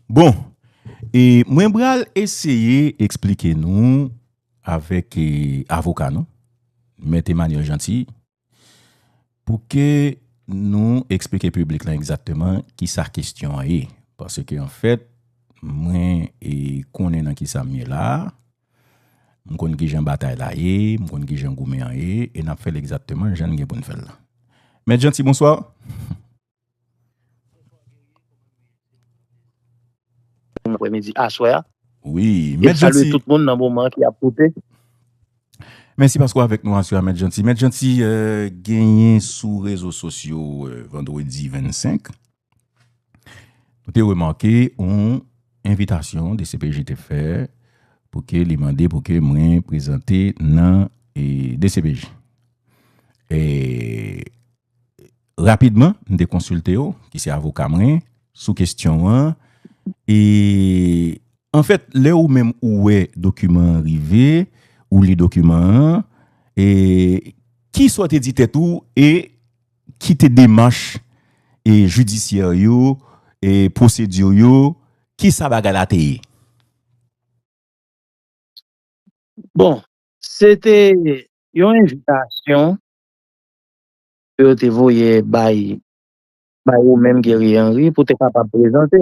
Bon, e mwen bral eseye eksplike nou avèk e avoka nou, Mèt Emmanuel Jeanty, pou ke nou eksplike piblik lan egzakteman ki sa kestyon an ye. Pase ke anfèt, mwen e konnen nan ki sa m ye la a, m konn ki jan batay la ye, m konn ki jan goumen an ye, e n ap fè l egzakteman jan n gen pou n fè l lan. Mèt Jeanty, bonswa. Bon aprè midi, aswè a. Wi, Mèt Janti. E salye tout moun nan moman an ki ap koute. Mèsi paske w avèk nou aswè a Mèt Janti. Mèt Janti, genyen sou rezo sosyo vandredi 25, nou te remake yon envitasyon dcpj te fè pou ke li mande pou ke mwen prezante nan dcpj. E Rapidman, m te konsilte w, ki se avoka mwen, sou kesyon an. E, anfèt, lè ou menm ou wè dokiman an rive, ou li dokiman an, e, ki sa w te di tèt ou e ki te demach e jidisyè yo, e pwosedi yo, ki sa bagay la te ye? Bon, se te yon envitasyon ke yo te voye bay bay ou menm Guerrier Henry pou te kapab prezante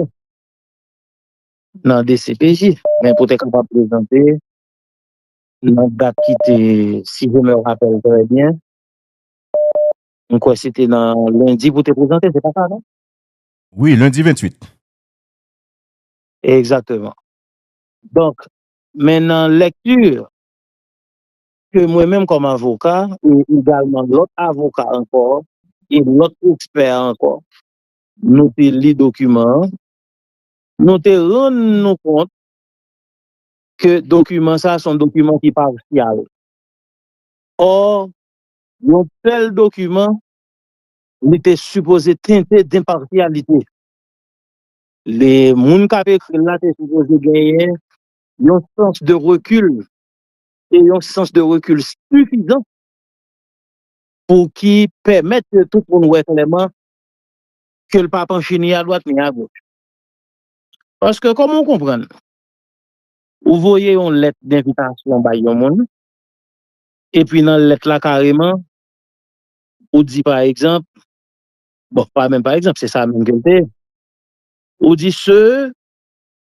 nan dcpj men pou te kapab prezante nan dat ki te si je me rappelle très bien m kwè se te nan lundi pou te prezante se pa sa non? Wi lundi 28. Exactement donk men nan lecture ke mwen menm kòm avoka e egalman lòt avoka ankò e lòt ekspè ankò nou te li dokiman an, nou te rann nou kont ke dokiman sa a se yon dokiman ki pasyal. Ò, yon tèl dokiman li te sipoze tente denpasyalite. Li, moun k ap ekri l la te sipoze genyen yon sans de rekil e yon sans de rekil sifizan pou ki pèmèt ke tout moun wè klèman ke l pa panche ni adwat ni agoch. Paske kòman w konprann ou voye yon lèt denvitasyon bay yon moun, epi nan lèt la kareman ou di pa egzanp, bon pa menm pa egzanp se sa menm ke l te ye, ou di se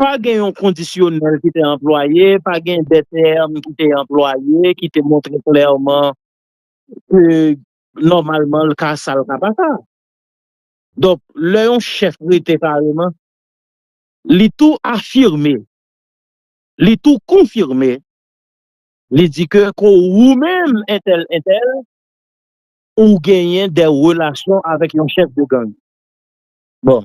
Pa gen yon kondisyonèl ki te anplwaye, pa gen de tèm ki te anplwaye ki te montre klèman ke nòmalman l ka sa l ka pa sa. Donk, lè yon chèf rete kareman, li tou afime, li tou konfime, li di ke ke ou menm entèl entèl, ou genyen de relasyon avèk yon chèf de gang. Bon,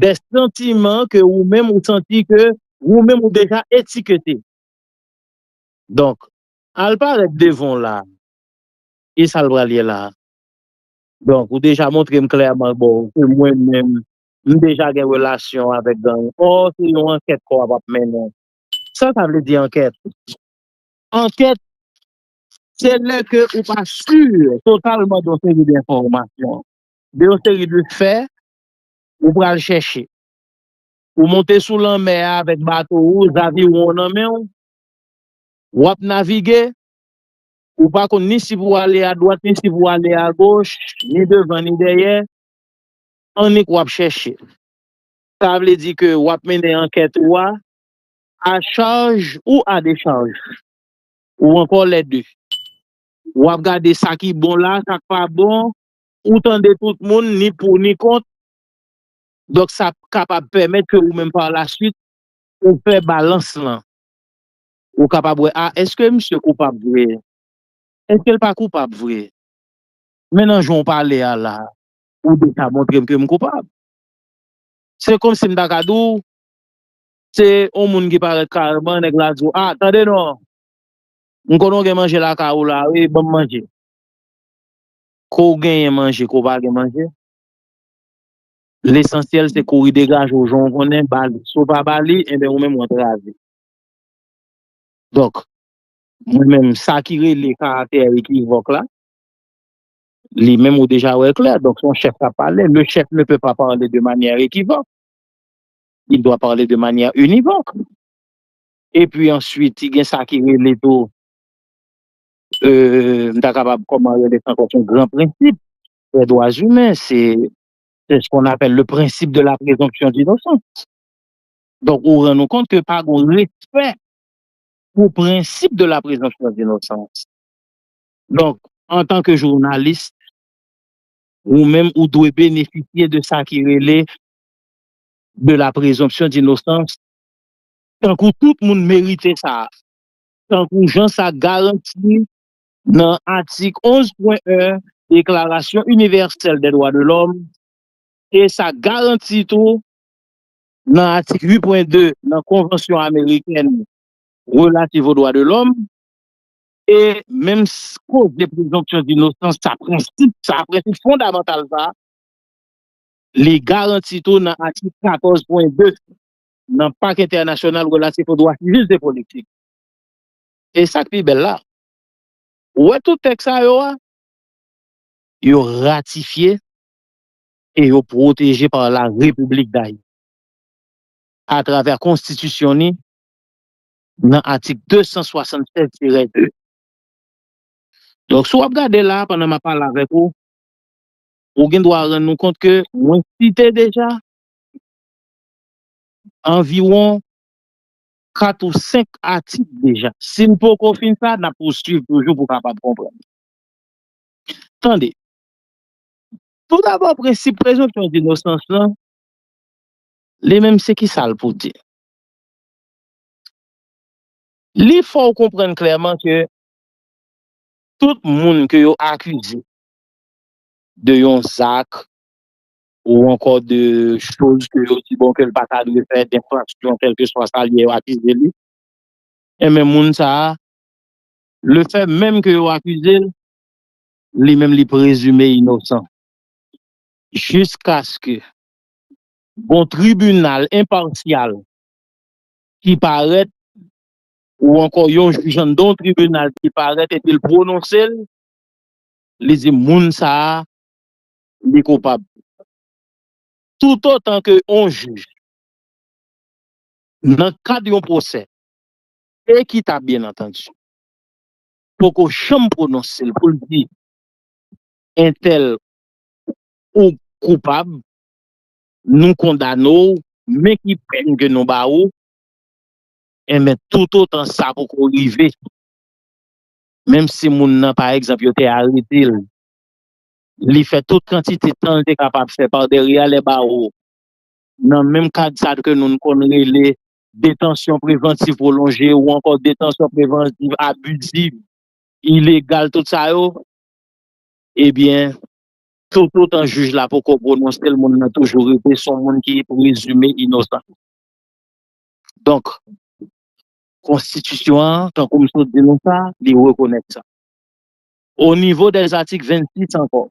Dè santiman ke ou menm ou santi ke ou menm ou deja etikete. Donk, al parèt devan w la a. Ki sa l pral ye la a? Donk, ou deja montre m klèman bon ke mwen menm m deja gen relasyon avèk gang. Ò, se yon ankèt ke w ap ap mennen. Sa sa vle di ankèt? Ankèt, se lè ke ou pa sur totalman de yon seri de enfòmasyon, de yon seri de fè ou pral chèche. Ou monte sou lanmè a avèk bato ou, zaviwon w nan men w, w ap navige, ou pa konn ni si pou w ale adwat ni si pou w ale agoch, ni devan ni dèyè, annik w ap chèche. Sa vle di ke w ap mennen ankèt ou a a chaj ou a dechaj, ou ankò lè de. W ap gade sa ki bon la, sa k pa bon, Ou tande tout moun, ni pou ni kont, donk sa kapab pèmèt ke ou menm par la swit ou fè balans lan. Ou kapab wè a, eske misye koupab vre? Eske l pa koupab vre? Men nan jan w pale a la, ou deja montre m ke m koupab. Se komsi m ta ka di w, se yon moun ki parèt kareman, nèg la di w, a, tande non, m konnen w gen manje lakay ou la wi, ban m manje. Ke w genyen manje ke w pa gen manje, lesansyèl se kouri degaje w jan w konnen ba li. Si w pa ba li, enben ou menm ou antrave. Donk, mwen menm sa ki rele karaktè ekivòk la, li menm ou deja wè l klè. Donk, se yon chèf k ap pale. Le chèf ne peut pas parler de manière équivoque. Il doit parler de manière univoque. Epi answit, gen sa ki rele tou M ta kapab kòman rele sa ankò son gran prensip dè dwa imen se se s kon apèl le prensip de la prezonpsyon dinosans. Donk ou rann ou kont ke pa gon respè pou prensip de la prezonpsyon dinosans. Donk antan ke jounalis ou menm ou dwe benefisye de sa ki rele de la prezonpsyon dinosans tankou tout moun merite sa. tankou jan sa garanti nan atik 11 pwen 1 Deklarasyon Inivèsèl dè Dwa de Lòm e sa garanti tou nan atik 8 pwen 2 nan Konvansyon Amerikèn Relativ o Dwa de Lòm e menm koze prezonpsyon dinosans sa prensip sa prensip fondamantal sa li garanti tou nan atik 14 pwen 2 nan Pak Entènasyonal Relatif o Dwa Sivil e Politik. E sa k pi bèl la, ou wè tout tèks sa yo a, yo ratifye e yo pwoteje pa la Repiblik Dayiti atravè Konstitisyon ni nan atik 276 tirè 2. Donk, si w ap gade la a pandan m ap pale avèk ou, ou gen dwa rann ou kont ke mwen site deja anviwon 4 ou 5 atik deja. Si n poko fin sa, n ap pousuiv toujou pou kapab konprann. Tande, toudabò prensip prezonpsyon dinosans lan, li menm se ki sa l pou di? Li fè w konprann klèman ke tout moun ke yo akize de yon zak ou ankò de choz ke yo di bon ke l pa ta dwe fè, denfraksyon kèlkeswa sa l ye yo akize li, enben moun sa a, le fè menm ke yo akize l, li menm li prezime inosan jiskaske gon tribinal enpasyal ki parèt ou ankò yon jij anndan yon tribinal ki parèt epi l pwononse l, li di moun sa a li koupab. Toutotan ke yon jij, nan kad yon pwosè ekitab byen antandi, poko janm pwononse l pou l di entèl ou koupab, nou kondane w, men ki pèn ke nou ba ou, enben toutotan sa poko rive, menm si moun nan pa egzanp yo te arete l li fè tout kantite tan li te kapab fè pa dèrye a lè bawo nan menm kad sa ke noun konn rele detansyon prevantiv pwolonje ou ankò detansyon prevantiv abiziv, ilegal tout sa yo ebyen toutotan jij la poko pwononse l moun nan toujou rete son moun ki prezime inosan. Donk konstitisyon an tankou m sot di nou sa li rekonèt sa. O nivo dè zatik 26 ankò,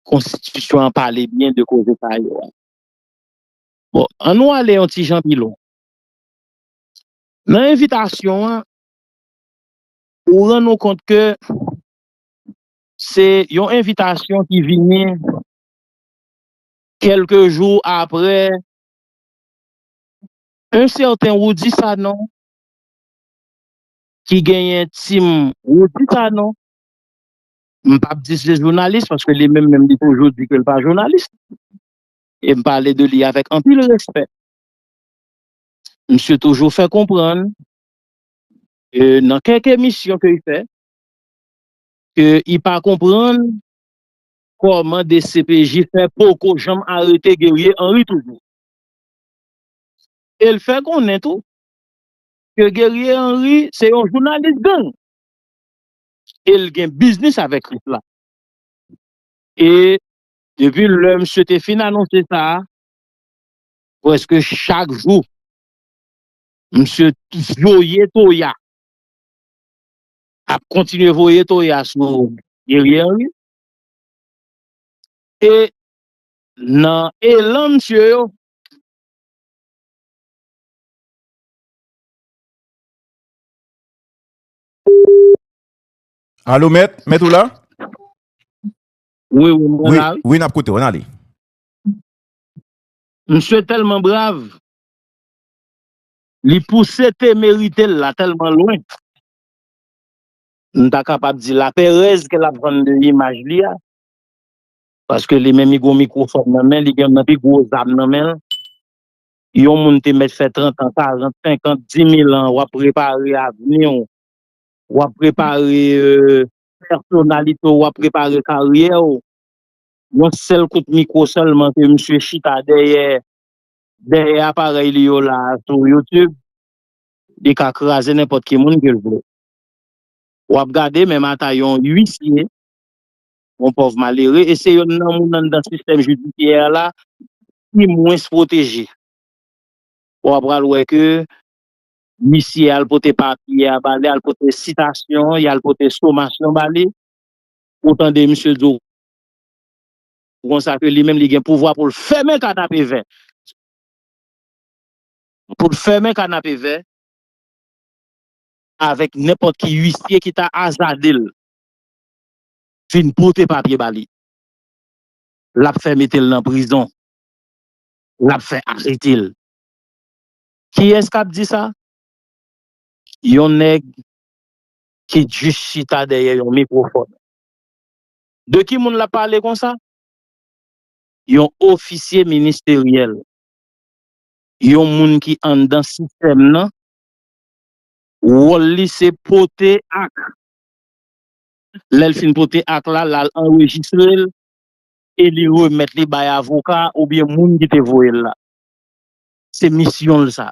konstitisyon an pale byen de koze sa yo a. Bon, an nou ale yon ti jan pi lwen. Nan envitasyon an, ou rann ou kont ke se yon envitasyon ki vini kèlke jou apre yon sèten Roudy Sanon ki genyen team Roody Sanon. M p ap di se jounalis paske li menm menm li toujou di ke l pa jounalis. E m pale de li avèk anpil respè. Misye toujou fè konprann ke nan kèk emisyon ke li fè, ke li pa konprann kòman dcpj fè poko janm arete Guerrier Henry toujou. E l fè konnen tou ke Guerrier Henry se yon jounalis gang e l gen biznis avèk Krip la. E depi lè misye te fin anonse sa, prèske chak jou misye voye toya, ap kontinye voye toya sou Guerrier Henry e nan elan misye yo, Alo mèt, mèt ou la? Wi, wi, mwen la wi. Wi, n ap koute w, an ale. Misye tèlman brav, li pouse temerite l la tèlman lwen, m ta kapab di laperèz ke l ap vann de imaj li a, paske li menm li gen yon mikwofòn nan men, li gen youn nan pi gwo zam nan men l, Yon moun te mèt fè trantan, karant, senkant, dimil an, w ap prepare avni w, w ap prepare pèsonalite w, w ap prepare karyè w. Yon sèl kout mikwo sèlman ke misye chita dèyè, dèyè aparèy li yo la a sou YouTube, li ka kraze nenpòt ki moun ke l vle. W ap gade menm ata yon uisye, yon pòv malere, e se yonn nan moun anndan sistèm jidisyè a la, pi mwens pwoteje. Bon a pral wè ke misye al pote papye a ba li, al pote sitasyon, y al pote somasyon ba li, ou tande misye di w konsa ke li menm li gen pouvwa pou l fèmen kanapevè, pou l fèmen kanapevè avèk nenpòt ki uisye ki ta azade l vin pote papye ba li. Lap fè metel nan prizon. Lap fè aretel. Kiyès kap di sa? Yon nèg ki just chita dèyè yon mikrofòn. De ki moun lap pale konsa? Yon ofisye ministeryèl. Yon moun ki anndan sistèm nan. Wòl li se pote ak. Lèl fin pote ak la, lal anrejistrel. e li remèt li bay avoka oubyen moun ki te voye l la. Se misyon l sa.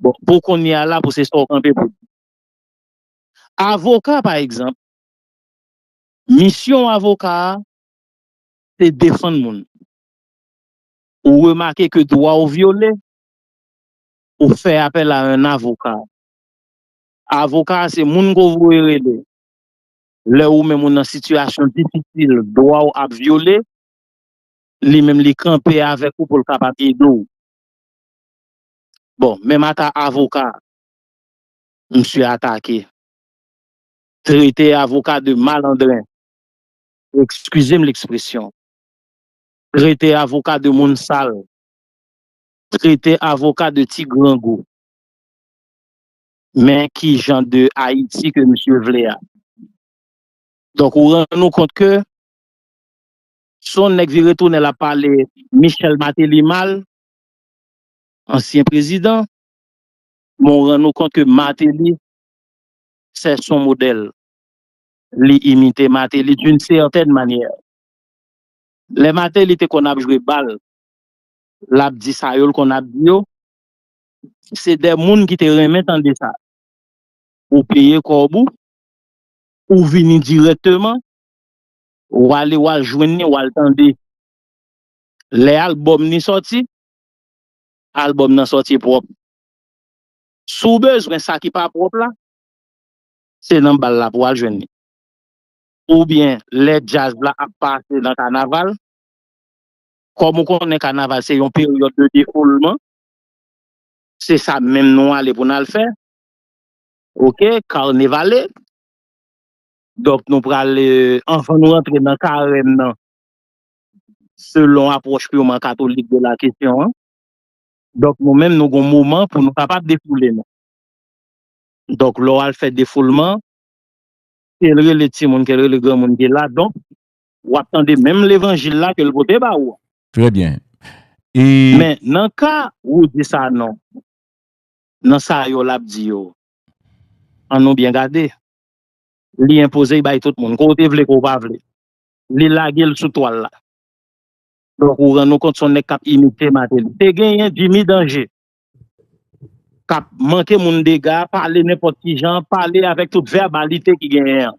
Bon, pou kounye a la pou se sa w kanpe pou w di. Avoka pa egzanp, misyon avoka a se defann moun. Ou remake ke dwa w vyole, ou fè apèl a un avocat. Avoka a se moun ke w voye rele. lè ou menm ou nan sitiyasyon difisil, dwa ou ap vyole, li menm li kanpe avèk ou pou l kapab ede w. Bon, menm ata avoka misye atake, trete avoka de malandren, ekskize m lekspresyon, trete avoka de moun sal, trete avoka de ti grangou. Men ki jan de Ayiti ke misye vle a. Donk ou rann ou kont ke se yon nèg vire tounen lap pale Michel Martelly mal, ansyen prezidan, men ou rann ou kont ke Martelly se son modèl. Li imite Martelly d'une certaine manière. Lè Martelly te konn ap jwe bal, lap di sa yo l konn ap di yo, se de moun ki te renmen tande sa. Ou peye kòb ou, ou vini dirèkteman, ou ale ou al jwenn ni ou al tande. Lè albòm ni sòti, albòm nan sòti pwòp. Si w bezwen sa ki pa pwòp la, se nan bal la pou w al jwenn li. Ou byen lè djaz la ap pase nan kanaval, kòm ou konnen kanaval se yon peryòd de defoulman, Se sa menm nou ale pou n al fè. Ok, Carnevale. Donk nou pral, anvan nou rantre nan Karèm nan, selon apwòch purman katolik de la kesyon an, donk nou menm nou gen yon moman pou nou kapab defoule nou. Donk lè w al fè defoulman, ke l rele timoun, ke l rele granmoun ki la, donk w ap tande menm levanjil la ke l pote ba ou an. Trè byen. E. Men, nan ka Roger Sanon, nan sa yo l ap di yo, an nou byen gade, li enpoze y bay tout moun. Ke w te vle, ke w pa vle. Li lage l sou twal la. Donk, ou rann ou kont se yon nèg k ap imite Martelly. Te genyen Jimmy Danger k ap manke moun dega, pale nenpòt ki jan, pale avèk tout vèbalite ki genyen an.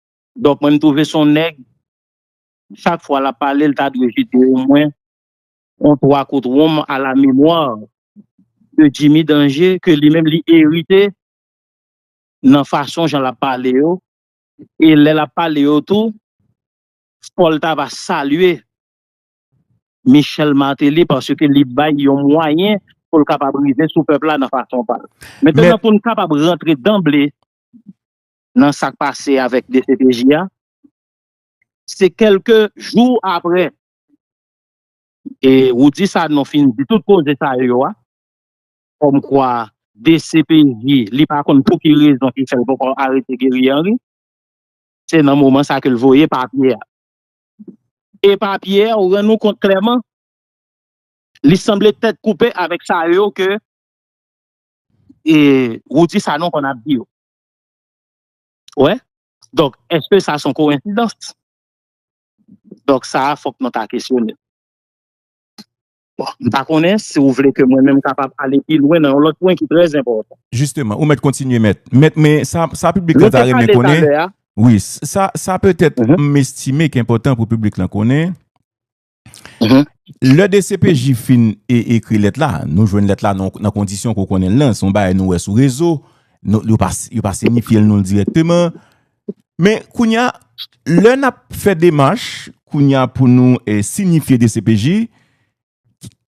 Donk mwen m twouve s on nèg chak fwa l ap pale l ta dwe jete omwen on 3 kout wonm a la memwa de Jimmy Danje ke li menm li erite nan fason jan l ap pale yo e lè l ap pale yo tou fò l ta va salye Michel Martelly paske li bay yon mwayen pou l kapab rive sou pèp la nan fason pa l. Mètènan pou n kapab rantre danble nan sak pase avèk dcpj a se kelke jou aprè e Roudy Sanon fin di tout koze sa yo a kòm kwa dcpj li pa konn pou ki rezon ki fèl poko arete Guerrier Henry se nan moman sa kel voye papye a e papye a ou rann ou kont klèman li sanble tèt koupe avèk sa yo ke e Roudy Sanon konn ap di yo. Ou wè? Donk, èske sa se yon kowensidans? Donk, sa a fòk nou ta kesyone. Bon, m pa konnen si ou vle ke mwen menm kapab ale pi lwen nan yon lòt pwen ki trè enpòtan. Jisteman, ou mèt kontinye mèt. Mèt, men sa piblik la ta renmen konnen, wi, sa petèt m estime ki enpòtan pou piblik la konnen, Lè dcpj fin ekri lèt la, nou jwenn lèt la nan kondisyon ke w konnen l lan, se yon bagay nou wè sou rezo, yo pa signifye l nou l dirèkteman, men kounye a, lè n ap fè demach, kounye a pou nou signifye dcpj,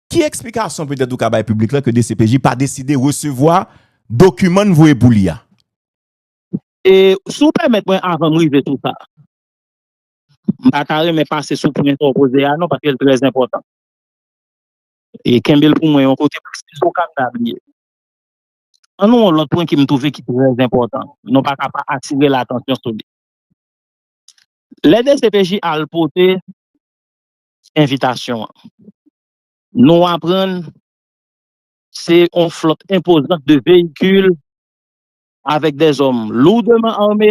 ki eksplikasyon petèt ou ka bay piblik la ke dcpj pa deside resevwa dokiman n voye pou li a? E, si w pèmèt mwen avan m rive sou sa. M pa ta renmen pase sou pwen sa w poze a non paske l trè enpòtan. E kenbe l pou mwen yon kote paske si w ka m ta bliye. An nou yon lòt pwen ke m twouve ki trè enpòtan. Nou pa ka pa atire l atansyon sou li. Lè dcpj al pote envitasyon an, nou aprann se yon flòt enpozant de veyikil avèk dè zòm lourdeman arme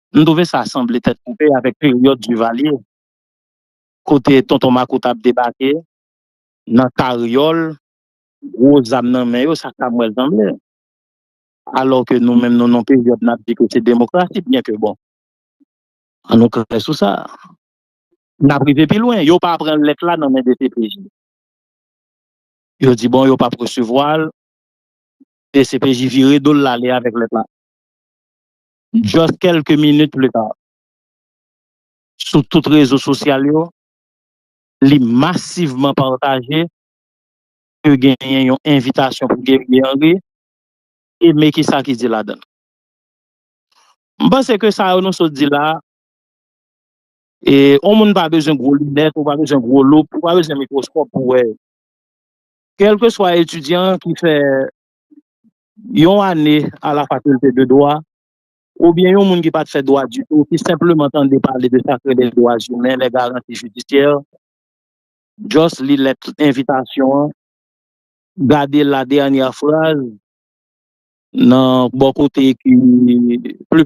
M twouve sa sanble tèt koupe avèk peryòd Duvalier kote Tonton Makout ap debake nan karyòl, gwo zam nan men yo, sa sa m wè l sanble. Alò ke nou menm nou nan yon peryòd n ap di ke se demokrasi byen ke bon an nou klè sou sa n ap rive pi lwen. Yo pa pran lèt la nan men dcpj. Yo di bon yo p ap resevwa l, dcpj vire do l l ale avèk lèt la. Just kelke minit pli ta, sou tout rezo sosyal yo, li masivman pataje ke genyen yon envitasyon pou Guerrier Henry e men kisa ki di ladan l. M panse ke sa yo nou sot di la, yon moun pa bezwen gwo linèt, ou pa bezwen gwo loup, ou pa bezwen mikwoskòp pou wè yo. Kelkeswa etidyan ki fè yon ane a la fakilte de dwa, oubyen yon moun ki pa t fè dwa ditou, ki senpleman tande pale de sa k rele dwa imen, lè garanti jidisyè, just li lèt envitasyon an, gade la dènyè fraz nan bò kote ki pli.